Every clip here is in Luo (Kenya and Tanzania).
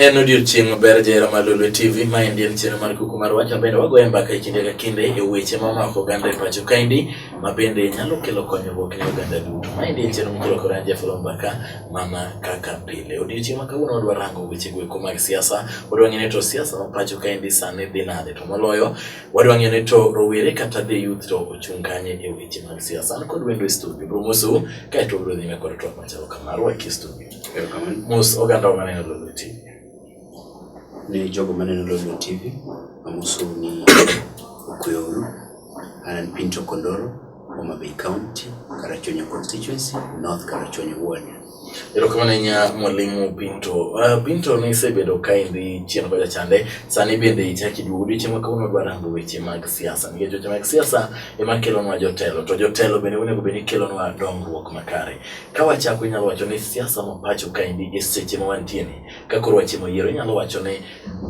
En odiechieng' maber jahera mar Lolwe TV ma endi en chenro mar kuku mar wach mabende wagoye mbaka e kinde ka kinde e weche mamako oganda e pacho kaendi ma bende nyalo kelo konyruok ne oganda duto. Ma endi en chenro mokelo kod an Jafolo Mbaka mana kaka pile. Odiechieng' ma kawuono wadwa rango weche goeko mag siasa, wadwa ng'eyo ni to siasa ma pacho kaendi sani dhi nade to moloyo Wadwa ng'eyo ni to rowere kata the youth to ochung' kanye e weche mag siasa. An kod wendo e studio, bro moso, kae to bro dhime kod twak machalo kama, rwaki e studio. Mos oganda wa maneno Lolo TV. Ni jogo maneno Lolo TV, amoso ni Okuyoru, Anan Pinto Kondoro, Homa Bay County, Karachuonyo constituency, North Karachuonyo ward. Erokamano ahinya mwalimu Binto. Uh, Binto nisebedo ka idhi chien kocha chande, sani bende ichak iduogo odiochieng' ma kawuono dwa rango weche mag siasa nikech weche mag siasa ema kelonwa jotelo to jotelo bende onego bed ni kelonwa dongruok makare. Ka wachako inyalo wacho ni siasa ma pacho kaendi e seche ma wantie ni ka koro watimo yiero inyalo wacho ni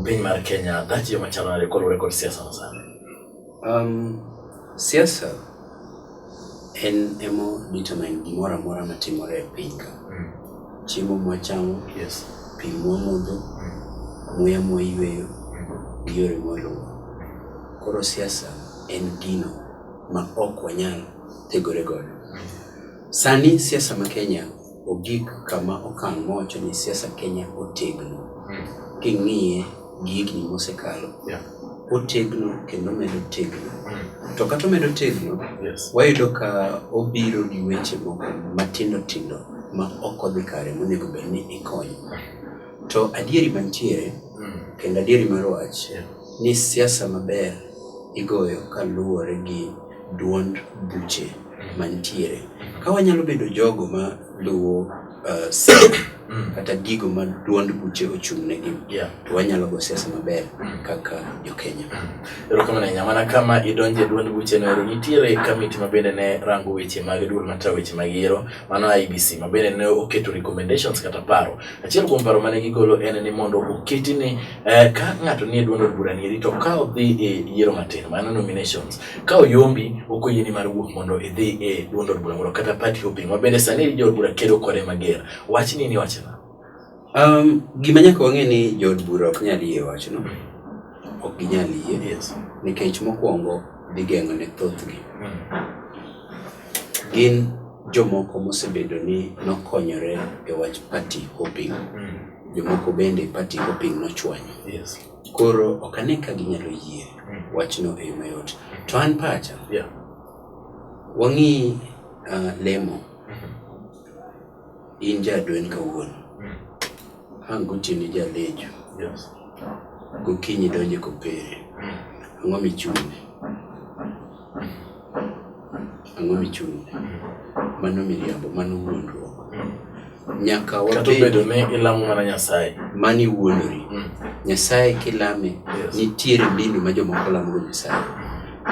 piny mar Kenya dhach yo machalo nade kaluwore kod siasa masani? Um, siasa en emo determine gimoro amora matimore e piny ka. Mm. Chiemo mwachamo, yes. pi mwamodho, mm. muya mwayueyo, mm. gi yore mwaluwo. Koro siasa en gino ma ok wanyal thegore godo. Mm. Sani siasa ma Kenya Ogik kama okang' mowacho ni siasa Kenya otegno, hmm. king'iye gi higni mosekalo, otegno kendo medo tegno. Hmm. To kata omedo tegno, wayudo ka obiro gi weche moko matindo tindo ma ok odhi kare monego bed ni ikonyo. Hmm. To adieri mantiere kendo adieri mar wach ni siasa maber igoyo kaluwore gi duond buche mantiere. Ka wanyalo bedo jogo ma luwo uh, sik mm. kata gigo ma duond buche ochung' negi yeah. to wanyalo go siasa maber mm. kaka jokenya mm. erokamano ahinya mana kama idonje duond buche no ero nitiere kamiti ma bende ne rango weche mag duol matayo weche mag yiero mano ibc ma bende ne oketo recommendations kata paro achiel kuom paro mane gigolo en ni mondo oketi ni Eh, ka ng'ato nie duond od bura nieri to ka odhi e yiero matin mano nominations ka oyombi ok oyieni mar wuok mondo idhi e duond od bura moro kata party hopping ma bende sani jood bura kedo kode mager wach ni ni wachna Um, gima nyaka wang'e ni jood bura ok nyal yie wachno ok ginyal yie yes nikech mokwongo gigeng'o ne thothgi gin jomoko mosebedo ni nokonyore e wach party hopping jomoko bende party go piny nochwanyo. Yes. Koro ok ane ka ginyalo yie mm. wachno e yo mayot. To an pacha, yeah. wang'i uh, lemo mm-hmm. in jadwen kawuono mm. ang' gotieni jalejo yes. gokinyi donje kopere mm. ang'o michune Ang'o michung'? Mano miriambo, mano wuondruok. Nyaka Kata obedo ni ilamo mana Nyasaye. Mani wuondori. Mm. Nyasaye kilame, nitiere mbinu ma jomoko lamogo Nyasaye.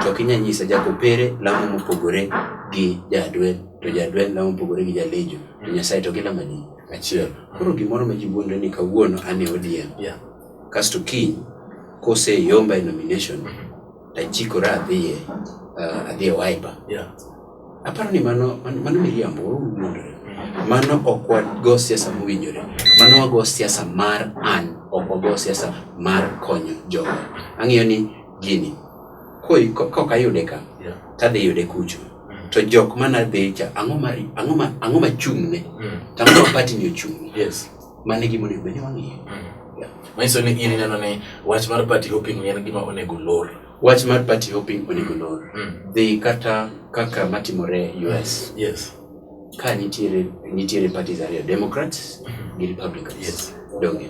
To ok inyal nyisa jakopere lamo mopogore gi jadwel, to jadwel lamo mopogore gi jalejo, to Nyasaye to gilamo adi? Achiel. Koro gimoro ma ji wuondre ni kawuono an e ODM. Kasto kiny koseyomba e nomination, Achikora adhiye uh, adhiye wiper. Yeah. Aparo ni mano mano miriambo wuondore. Mano ok wago siasa mowinjore. Mano wago siasa mar an, ok wago siasa mar konyo jogo. Ang'eyo ni gini koi kok ayude ka yeah. tadhi yude kucho mm. to jok mana dhicha ang'o ma ang'o ma ang'o ma chung'ne mm. to ang'o ma party ni ochung'ne yes Mano e gima onego bed ni wang'iyo. Manyiso ni in ineno ni wach mar party hopping en gima onego lor. Wach mar party hopping onego lor. Dhi kata kaka matimore US. Yes. Ka nitiere nitiere parties ariyo, Democrats gi Republicans. Yes. Donge.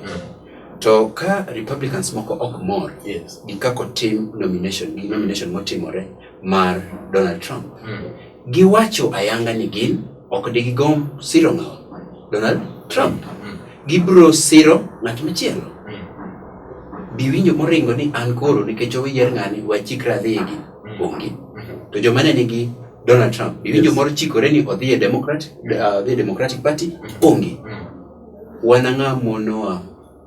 To ka Republicans moko ok mor Yes. gi kako tim nomination gi nomination motimore mar Donald Trump. Mm. Giwacho ayanga ni gin ok digigom siro ng'awa Donald Trump. Mm. Gibro siro ng'at machielo. Mm. Biwinjo moringo ni an koro nikech owiyier ng'ani wachikra adhi egi mm. onge. Mm-hmm. To joma ne nigi Donald Trump biwinjo yes. moro chikore ni odhi e Democrat, uh, Democratic Party mm. onge. Mm. Wan ang'a monowa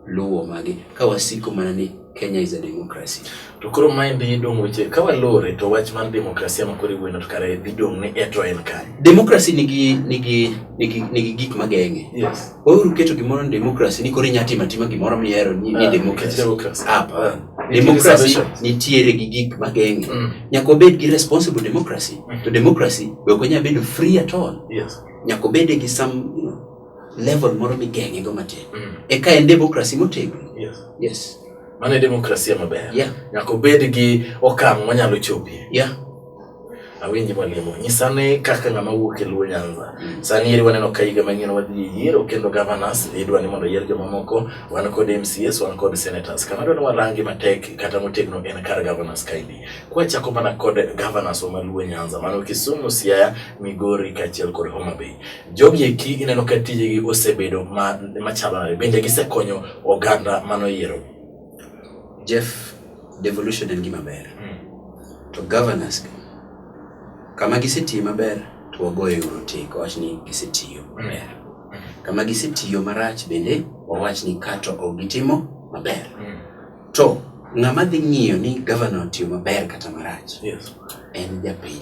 luwo magi ka wasiko mana ni Kenya is a democracy. To koro maendi dong' weche ka walore to wach mar demokrasia ma koro iwuoyno to kare dhi dong' ni e to en kare. Demokrasi nigi nigi nigi nigi gik mageng'e. Yes. Weuru keto gimoro ni demokrasi ni koro inya timo atima gimoro mihero ni ni Ah, demokrasi. demokrasi. Hapana. Nitie Demokrasi reservations. nitiere gi gik mageng'e. Mm. Nyaka obed gi responsible democracy. To democracy be ok onya bedo free at all. Yes. Nyaka obede gi some you know, level moro migeng'e go matin mm. eka en demokrasi motegno yes. yes. mano e demokrasia maber yeah. nyaka obed gi okang' monyalo chopie yeah. awinji mwalimu nyisane kaka ng'ama wuok e luo nyanza mm. sani eri waneno ka higa manyien wadhi e yiero kendo governors idwa ni mondo yier jomamoko wan kod mcs wan kod senators kama dwa ni warangi matek kata motegno en kar governors kaendi kwachako mana kod governors wa maluo nyanza mano kisumu siaya migori kaachiel kod homa bay Jogi eki ineno ka tijegi osebedo machalo nade, bende gisekonyo oganda mano yiero? Jeff, devolution en gima ber. Hmm. To governors, kama gisetiye maber, to wagoye orotiko, wach ni gisetiyo hmm. maber. Kama gisetiyo marach bende, wawach ni kato ok gitimo maber. Hmm. To ng'ama dhi ng'iyo ni gavana otiyo maber kata marach yes. en japiny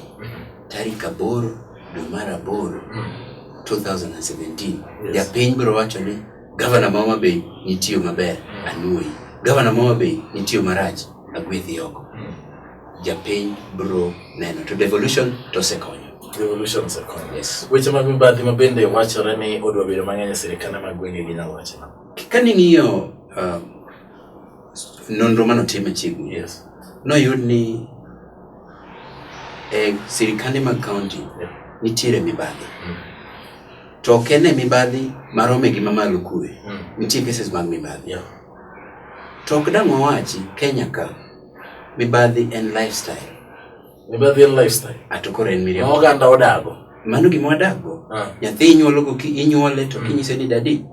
tarik aboro dwe mar aboro 2017 yes. japiny biro wacho ni gavana ma Homa Bay nitiyo maber anuoyi gavana ma Homa Bay nitiyo marach agwethi oko japiny biro neno to devolution to osekonyo revolution osekonyo. Yes. Weche mag mibadhi ma bende wachore ni odwa bedo mang'eny e sirkande mag gwenge gi nyalo wachona. Ka ning'iyo uh, nonro mane otim machiegni yes. noyud ni e sirikande mag kaunti yep. nitiere mibadhi mm. to ok en e mibadhi marome gi mamalo kuwe mm. nitie cases mag mibadhi yeah. to ok dang' wawachi kenya ka mibadhi en lifestyle mibadhi en lifestyle ato koro en miriambo oganda odago mano gima wadago ah. nyathi inyuolo inyuole to mm. kinyise ni dadi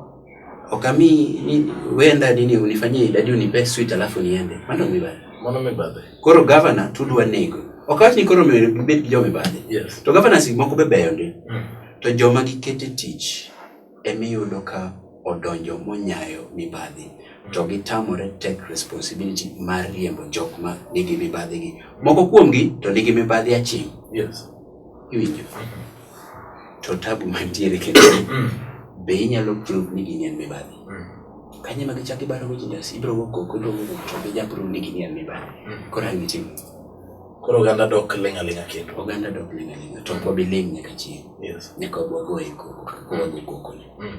Okami ni wenda nini unifanyie idadi unipe sweet alafu niende. Mano mibadhi. Mano mibadhi. Koro governor tudwa nego. Okawach ni koro mibet gi joma mibadhi. Yes. To governor si moko be beyo ndi. Mm. To joma gikete tich emi yudo ka odonjo monyayo mibadhi to gitamore take responsibility mar riembo jok ma nigi mibadhi gi. Moko kuomgi to nigi mibadhi aching'. Yes. Iwinjo. Mm -hmm. to tabu mantiere kendo mm. be inyalo prove ni gini en mibadhi mm. kanye ma gichak ibaro go jindas ibro go koko ibro go to be ja prove ni gini en mibadhi mm. koro ang' itim koro oganda dok ling' aling'a kendo oganda dok ling' aling'a to ok wabi ling' nyaka chieng' nyaka wagoye koko kaka wago kokoni Mm.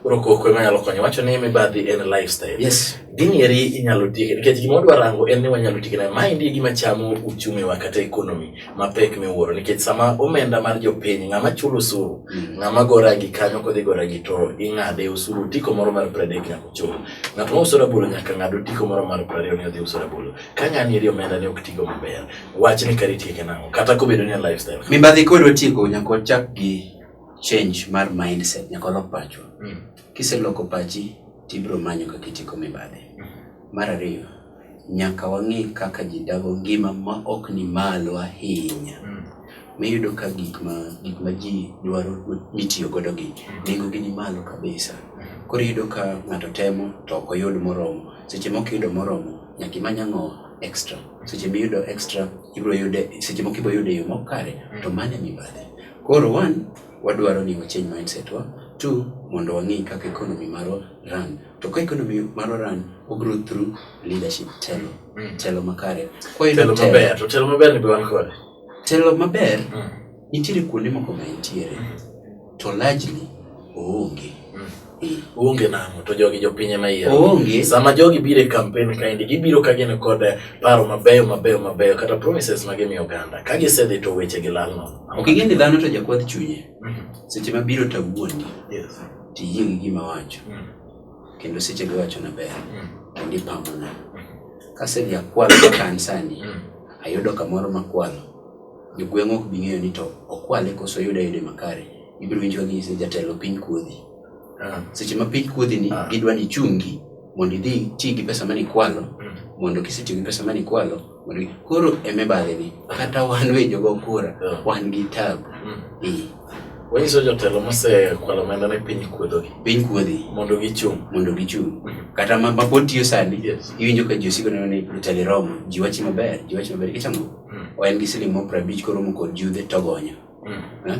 Koro koko ema nyalo konyo. Wacho ni mibadhi en lifestyle. Yes. Gini eri inyalo tieke nikech gima wadwa rango en ni wanyalo tieke nayo. Ma endi e gima chamo uchumi wa kata economy mapek miwuoro nikech sama omenda mar jopiny ng'ama chulo osuru mm. ng'ama go rangi kanyo kodhi go rangi to ing'ade osuru tiko moro mar pradek nyaka ochul. Ng'at ma uso rabolo nyaka ng'ad otiko moro mar prariyo ni odhi uso rabolo. Ka ng'ani eri omenda ne ok tigo maber. Wach ni kari tieke nang'o kata kobedo ni en lifestyle. Mibadhi kodwa tieko nyaka ochak gi change mar mindset nyaka walok pachwa mm. kiseloko pachi tibiro manyo kaka itiko mibadhi mm. mar ariyo nyaka wang'e kaka ji dago ngima ma ok ni malo ahinya mm. miyudo ka gik ma gik ma ji dwaro mitiyo godo gi mm. nengo gi ni malo kabisa mm. koro iyudo ka ng'ato temo to ok oyud moromo seche moko iyudo moromo nyaka imany ang'o extra seche miyudo extra ibiro yude seche moko ibiro yude yo mokare to mane mibadhi Koro one, wadwaro ni wa change mindset wa, two, mondo wang'e kaka economy marwa run. To ka economy marwa run, o grow through leadership, telo, mm. telo makare. Kwa telo maber, to telo maber ni be wan kode. Telo maber, mm. nitiere kuonde moko ma nitiere, mm. to largely oonge. Uonge nang'o to jogi jopiny ema yiero. Oonge. Sama jogi biro e kampen kaendi, gibiro ka gin kod paro mabeyo mabeyo mabeyo kata promises ma gimiyo oganda. Ka gisedhi to weche gi lal nono. Ok ing'e ni dhano to jakwath chunye. Seche ma biro to awuondi, Yes. to iyie gi gima awacho. Mm. Kendo seche go iwachona ber, Mm. kendo ipamona. Kasedhi akwalo ka kanisani, Mm. ayudo kamoro makwalo. Jogweng' ok bi ng'eyo ni to okwale koso oyude ayude makare. Ibiro winjo ka ginyise jatelo piny kuodhi. Ah. Seche ma piny kuodhi ni ah. gidwa ni chungi mondo idhi ti gi pesa mane ikwalo mm. mondo kisetiyo gi pesa mane ikwalo mondo koro eme badhe ni kata wan we jogo kura ah. wan gi tabu. Mm. Wanyiso jotelo mosekwalo omenda ne piny kuodho gi. Piny kuodhi. Mondo gichung'. Mondo gichung'. Mm. Kata ma pod tiyo sani, iwinjo ka ji osiko neno ni jotelo romo, ji wachi maber, ji wachi maber, kichamo. En gi siling' moro prabich koromo kod judhe togonyo. Mm. Eh?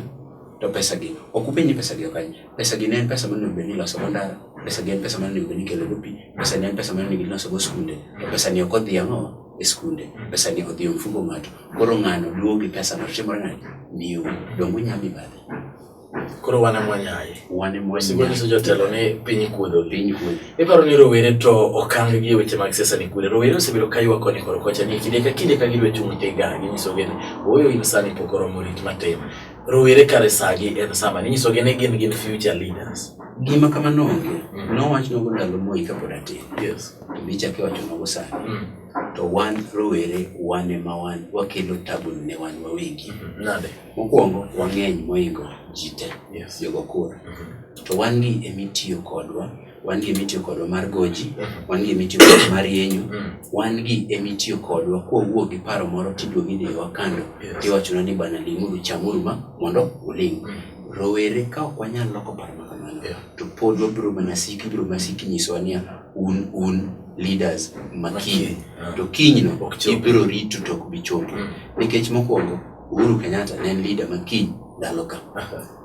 To pesa gi, ok upenji pesa gi okany. Pesa gi ne en pesa mane obedi loso go ndara, pesa gi en pesa mane obedi kelo go pi, pesa ne en pesa mane obedi loso go skunde. To pesa ni ok odhi ang'o e skunde, pesa ni odhi omfugo ng'ato. Koro ng'ano duogo gi pesa no timore nade? Miyo, dongo nyami badhe. Koro wane mwanyaye. Wane mwanyaye. Sigo niso jotelo ni piny kuodho. Piny kuodho. Iparo ni rowere to okang gi weche mag siasa ni kure. Rowere osebedo ka ywak koni koro kocha ni kinde ka kinde ka gidwe chung' tega ginyiso gene oyo in sani pok oromo rit matin. Rowere kare sagi en sama ninyiso gene gin gin future leaders. Gima kamano onge. Mm. Nowach nogo ndalo Moi kapod atin. Yes. To bichak iwacho nogo sani. Mm. To wan rowere wan ema wan wakelo tabu ne wan wawegi. Mm-hmm. Nade? Mokwongo wang'eny moingo ji te yes. jogo kura mm -hmm. to wan gi emitiyo kodwa wan gi emitiyo kodwa mar goji mm -hmm. wan gi emitiyo kodwa mar yenyo mm -hmm. wan gi emitiyo kodwa kowuok gi paro moro tiduogi ni wakando yes. tiwachona ni bana limuru chamuru ma mondo uling mm -hmm. rowere ka ok wanyal loko paro ma kamano yeah. to pod wabiro mana siki biro mana siki nyisowa niya un un leaders makiny to kinyno ibiro rito to ok bi chopo mm. nikech mokwongo Uhuru Kenyatta ne en leader ma kiny ndalo ka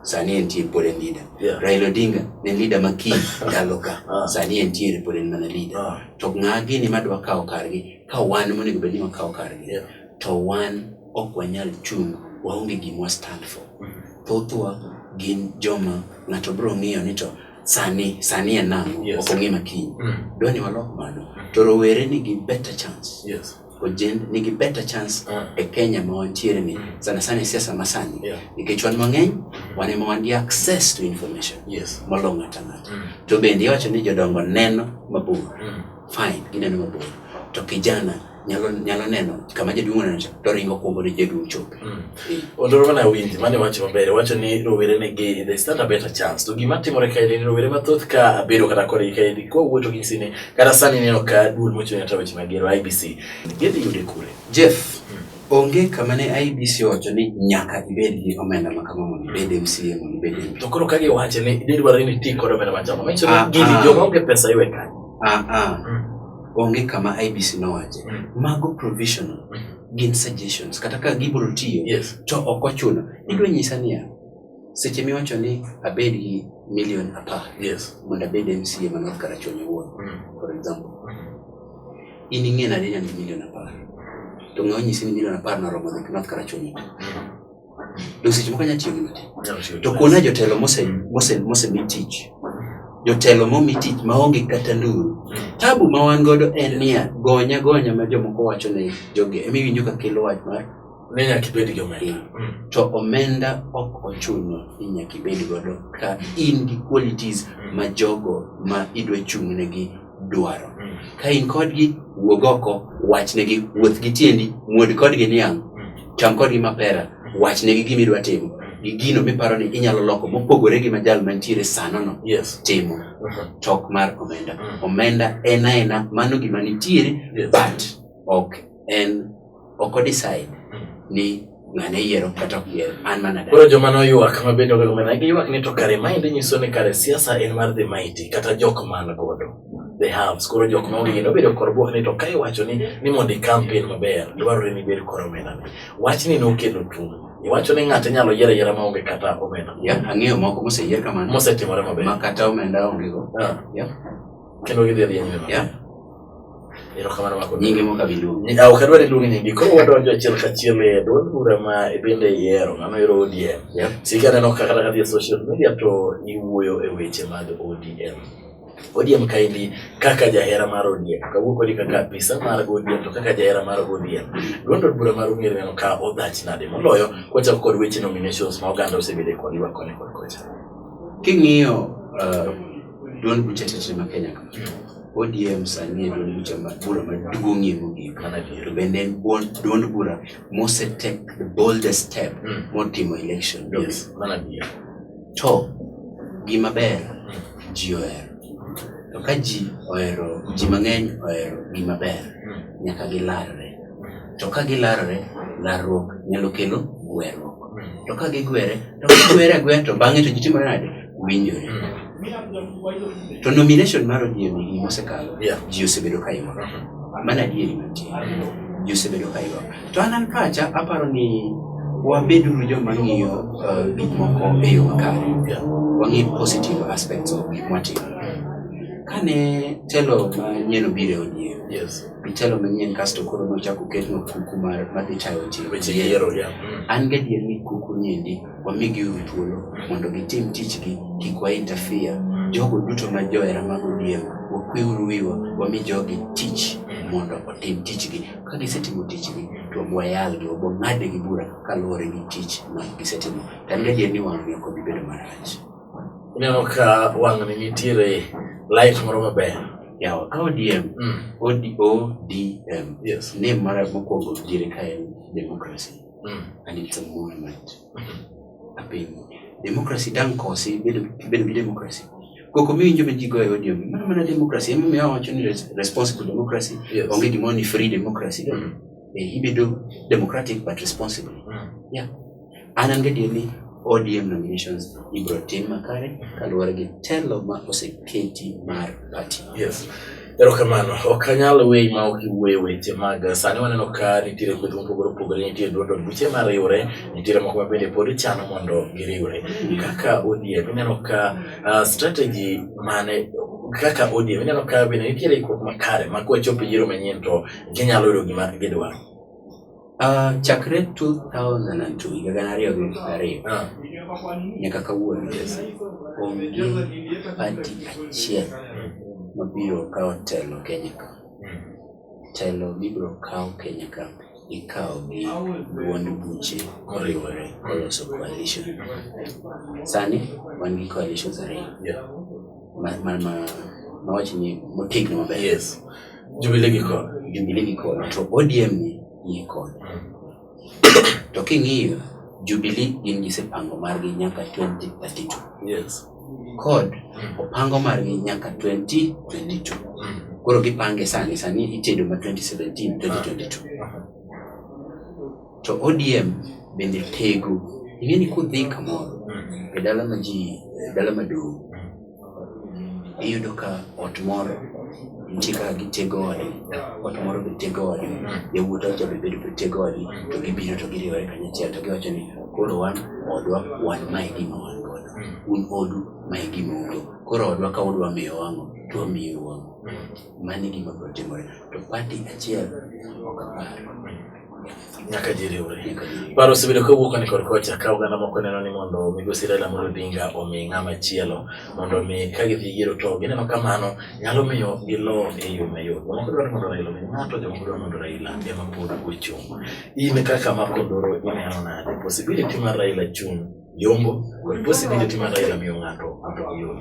sani entie pod en leader yeah. Raila Odinga ne en leader ma kiny ndalo ka ah. sani entiere pod en mana leader ah. to ng'a gini madwa kawo kargi ka wan monego bed ni wakawo kargi yeah. to wan ok wanyal chung' waonge gima wa stand for mm-hmm. thothwa gin joma ng'ato bro ng'iyo ni to sani sani en nang'o yes. ok ong'e makiny mm. dwa ni walok mano to rowere nigi better chance yes. Ojen nigi better chance uh. e Kenya ma wantiere ni sana sana e siasa masani yeah. nikech wan mang'eny wan ema wan gi access to information yes. malong'o ng'ato ang'ata mm. to bende iwacho ni jodongo neno mabor mm. fine gineno mabor to kijana nyalo, nyalo neno kama jaduong' oneno to ringo kuombo ni jaduong' chopo Mm. Ondoro mana winji mane wacho maber wacho ni rowere ne gi they stand a better chance to gima timore kae ni rowere mathoth ka abedo kata kore kae ni kwa wuoto gi sine kata sani neno ka duol mochung' ne taweche mag gero IBC gidhi yude kure Jeff mm. onge kama ne IBC owacho ni nyaka ibed gi omenda ma kama mondo ibed MCA mondo ibed MP. To koro ka giwacho ni idhi dwaro ni iti kod omenda machama, manyiso ni ah, gini ah. joma onge pesa iwe kanyo. Ah, ah. Mm. Onge kama IBC nowache. Mm. Mago provisional. Mm. gin suggestions kata ka gibiro tiyo yes. to ok ochuno idwa nyisa niya seche miwacho ni abed gi million apar yes. mondo abed mca ma north karachuonyo owuon mm. for example mm. in ing'e nade ni an gi million apar to ng'e onyisi ni million apar noromo north karachuonyo mm. Donge seche moko nyalo tiyo gi matin. To kuona jotelo mosemi tich, jotelo momi tich maonge kata nduru. Hmm. Tabu ma wan godo en niya, gonya gonya ma jomoko wacho ne jogi, ema iwinjo ka kelo wach mar ne nyaka ibed gi omenda. Hmm. Hmm. To omenda ok ochuno ni nyaka ibed godo ka in gi qualities ma jogo ma idwa chung'negi dwaro. Mm. Ka in kodgi, wuog oko, wachnegi, wuoth gi tiendi, muod kodgi niang', mm. cham kodgi mapera, mm. wachnegi gima idwa timo gi gino miparo ni inyalo loko mopogore gi majal mantiere sanono yes. timo uh-huh. chok mar omenda. Omenda en aena mano gima nitiere but ok en ok o decide ni ng'ane yiero kata ok yiero an mana dala. Koro joma noywak ma bende ogogo mana giywak ni to kare maendi nyiso ni kare siasa en mar the mighty kata jok man godo the haves koro jok ma onge gino obedo kor bwok ni to ka iwacho ni ni mondo i campaign maber dwarore ni ibed kor omena ni wach ni nokelo tung iwacho ni ng'ato inyalo yiero ayiera ma onge kata omena Ya, ang'eyo moko moseyier kamano mosetimore maber ma kata omenda ongego. Ah, Ya. kendo gidhi dhi nyime maber. Ya. erokamano mako nyinge moko abiluongo ni aw kadwa ni luongi nyingi koro wadonjo achiel kachiel e duond bura ma ibende iyiero ng'ano ero ODM yeah. sika neno kaka kata kadhi e social media to iwuoyo e weche mag ODM ODM kaendi kaka jahera mar ODM kawuok kodi kaka apisa mar ODM to kaka jahera mar ODM duond od bura mar ung'ere neno ka odhach nade moloyo kwachako kod weche nominations ma oganda osebedo e kod ywak koni kod kocha king'iyo uh, Duond buche sese ma Kenya ka. ODM sani e duond buche ma bura maduong'ie mogik. To bende en buon- duond bura mose take the boldest step Mm. motimo election. Yes. Mana adier. To gima ber ji ohero. To ka ji ohero, ji mang'eny ohero gima ber, nyaka gilarre. to ka gilarore larruok nyalo kelo gwerruok to ka gigwere to gigwere agwera to bang'e to gitimore nade winjore to nomination mar ODM ni mosekalo ji osebedo ka imoro mana adieri mantie ji osebedo ka imoro to an an pacha aparo ni wabeduru joma ng'iyo uh, gik moko e yo makare wang'i positive aspects of gik mwatimo kane telo manyien obiro e ODM itelo manyien kasto koro nochako ketno kuku mar madhi tayo weche yiero ya mm. an gadier ni kuku niendi wamigi uru thuolo mondo gitim tichgi kik wa interfere mm. jogo duto ma johera mag odiem wakwe uru wiwa wami jogi tich mm. mondo otim tichgi ka gisetimo tichgi to wayalgi wabo ng'adnegi bura kaluwore gi tich ma gisetimo to an gadier ni wang'ni ok obi bedo marach Ineno ka wang'ni nitiere light moro maber. Yawa ka ODM, mm. ODM, yes. ne mara mokwongo jiri ka en democracy mm. and it's a movement. Mm. Apiny, democracy dang kosi, bedo gi democracy. Koko miwinjo ma ji goyo ODM, mana mana democracy, ema miyo awacho ni responsible democracy, yes. onge gimoro ni free democracy. Mm. Eh, ibedo democratic but responsible. Mm. Yeah. An an gadier ni ODM nominations ibiro tim makare kaluwore gi telo ma oseketi mar party. Yes. Erokamano. Ok anyal weyi ma ok iwuoyo weche mag sani waneno ka nitiere kweth mopogore opogore, nitie duond od buche ma riwre, nitiere moko ma bende pod chano mondo giriwre. Kaka ODM ineno ka ah, strategy mane kaka ODM ineno ka bende nitiere ikruok makare ma kwachopo e yiero manyien to ginyalo yudo gima gidwaro. Uh, chakre 2002 higa gana ariyo gi piero ariyo ah. nyaka kawuono onge pati achiel mabiro kawo telo Kenya ka telo mibiro kawo Kenya ka ikawo gi duond buche koriwore koloso coalition sani wan gi coalitions ariyo mawach ni motegno maber yes jubile gi kod jubile gi kod to odm ni ni kod to king'iyo jubili gin gisepango margi nyaka 2032 yes kod mm. opango margi nyaka 2022 mm. koro gipange sani sani itedo ma 2017 2022 uh -huh. To ODM bende tego. Ing'e ni kudhi kamoro e dala ma ji e dala maduong' iyudo ka ot moro nitie kaka gitego ode, ot moro be tego ode, yawuot ot be bedo be tego ode, to gibiro to giriwore kanyachiel to giwacho ni koro wan odwa wan mae gima wan godo, un odu mae gima ugo. Koro odwa ka udwa miyo wang'o to wamiyo wang'o. Mano e gima biro timore. To party achiel ok apar. nyaka ji riwre paro osebedo kowuok ni kod kocha ka oganda moko neno ni mondo migosi Raila Amolo Odinga omi ng'ama chielo mondo mi ka gidhi yiero to gineno kamano nyalo miyo gilo e yo mayot jomoko dwaro mondo Raila omi ng'ato jomoko dwaro mondo Raila ema pod ochung' in kaka ma Kondoro ineno nade possibility mar Raila chung' Yombo, bosi bende timo adaya miyo ng'ato mondo oyud.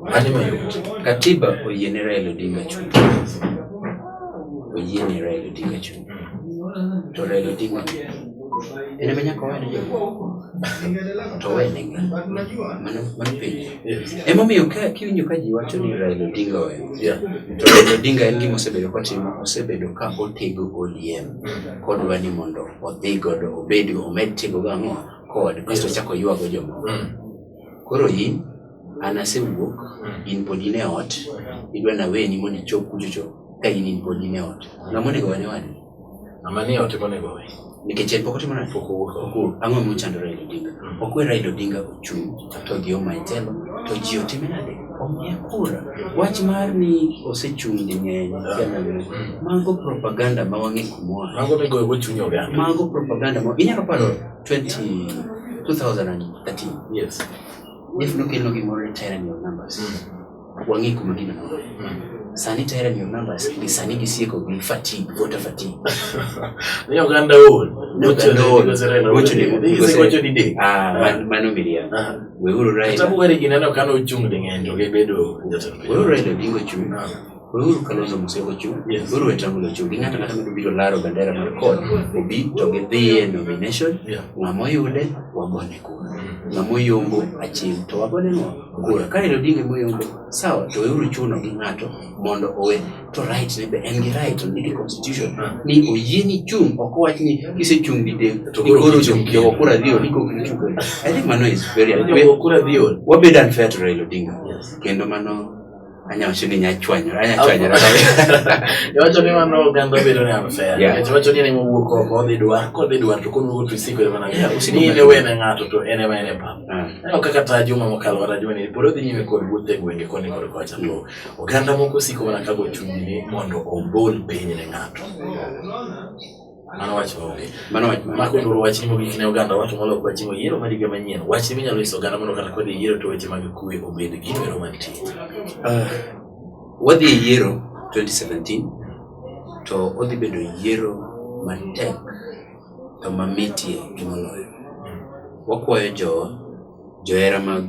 Mane mayot? Katiba oyiene Raila Odinga chung'. Oyiene Raila Odinga chung'. To Raila Odinga en ema nyaka owene yombo. To owene ng'a? Mano mano penjo. Emomiyo ka kiwinjo ka ji wacho ni Raila Odinga owe. Yeah. To Raila Odinga en gima osebedo kotimo, osebedo ka otego ODM kodwa ni mondo odhi godo obed omed tego go ang'o? kod kasto ochako ywago jomoko mm. koro in an asewuok mm. in pod in e ot idwa naweni mondo ichop kuchocho ka in in pod in e ot ng'ama onego wane wani ng'ama ni ot monego we nikech en pok otimo nade ang'o mochandore Raila Odinga mm. ok we Raila Odinga ochung' to gi omaitelo to ji otime nade omiye kura wach mar ni osechung' di ng'eny kiananeno mago propaganda ma wang'e kumora mago migoyo go chuny oganda mago propaganda ma inyalo paro 20 2013 yes if nokelo gimoro e tyranny of numbers mm. Wang'e kuma gino nore. Sani to hera miyo numbers gi sani gisieko gi fatigue, voter fatigue. Ni oganda ol. Ni oganda ol. Gocho ni gose. Gocho ni de. Ah, man mano miria. We uru rai. Tabu were gina no kano chung de ngendo ge bedo jatelo. We uru rai de bingo chung. We uru kano zo muse go chung. We uru etangu lo chung. Ngata ngata mendo biro laro bandera mar kod. Obi to ge dhiye nomination. Ngamo yude wagone ku. Ngamo yombo achim to wagone no. kura ka en odinga moyombo sawa to weuru chuno gi ng'ato mondo owe to right ne be en gi right on the constitution ah. ni oyie ni chung' ok wach ni kise chung' gi dek to koro chung' ki ok kura dhiyo ni kok chung' i think mano is very unfair wabed unfair to Raila Odinga kendo mano Anya wacho ni nyachwanyore, anya chwanyore. Iwacho ni mano oganda bedo ni unfair. Yeah. Nikech iwacho ni en ema owuok oko odhi dwar, kodhi dwar to koduogo to isikore mana Yeah, niya, usigo ni mana. ne wene ng'ato to en ema en e pap. Ah, Aneno kaka ta juma mokalo kata juma ni pod odhi nyime kod wuoth e gwenge koni kod kocha to oganda moko osiko mana kago chunygi ni mondo obol piny ne ng'ato. Mano wach maonge. Mano wach maonge. Mako nduru wach ni mogik ne oganda wacho molok wach ni yiero mar higa manyien. Wach ni minyalo nyiso oganda mondo kata kodhi yiero to weche mag kuwe obed gino ero mantie. Uh, wadhi e yiero 2017 to odhi bedo yiero matek to mamitie gi moloyo. Wakwayo jo johera mag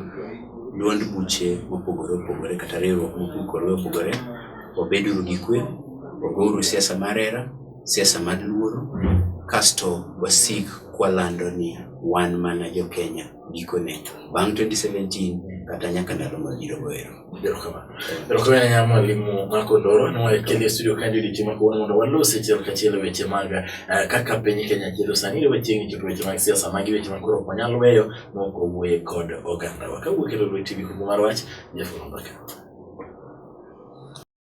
duond buche mopogore opogore kata riwruok mopogore opogore obeduru gi kwe, ogouru siasa mar hera siasa mar luoro kasto wasik kwalando ni wan mana jo Kenya gikone bang' 2017 kata nyaka ndalo mabiro goero. Erokamano ahinya mwalimu Marco Ndoro ne wakeli e studio kae odiochieng' ma kawuono mondo walos achiel kachiel e weche mag eh, kaka piny Kenya chalo sani ne wachiegni chopo weche mag siasa magi weche ma koro ok wanyal weyo maok wawuoye kod ogandawa. Kawuok e Lolwe TV kuku mar wach, Jeff Olambaka.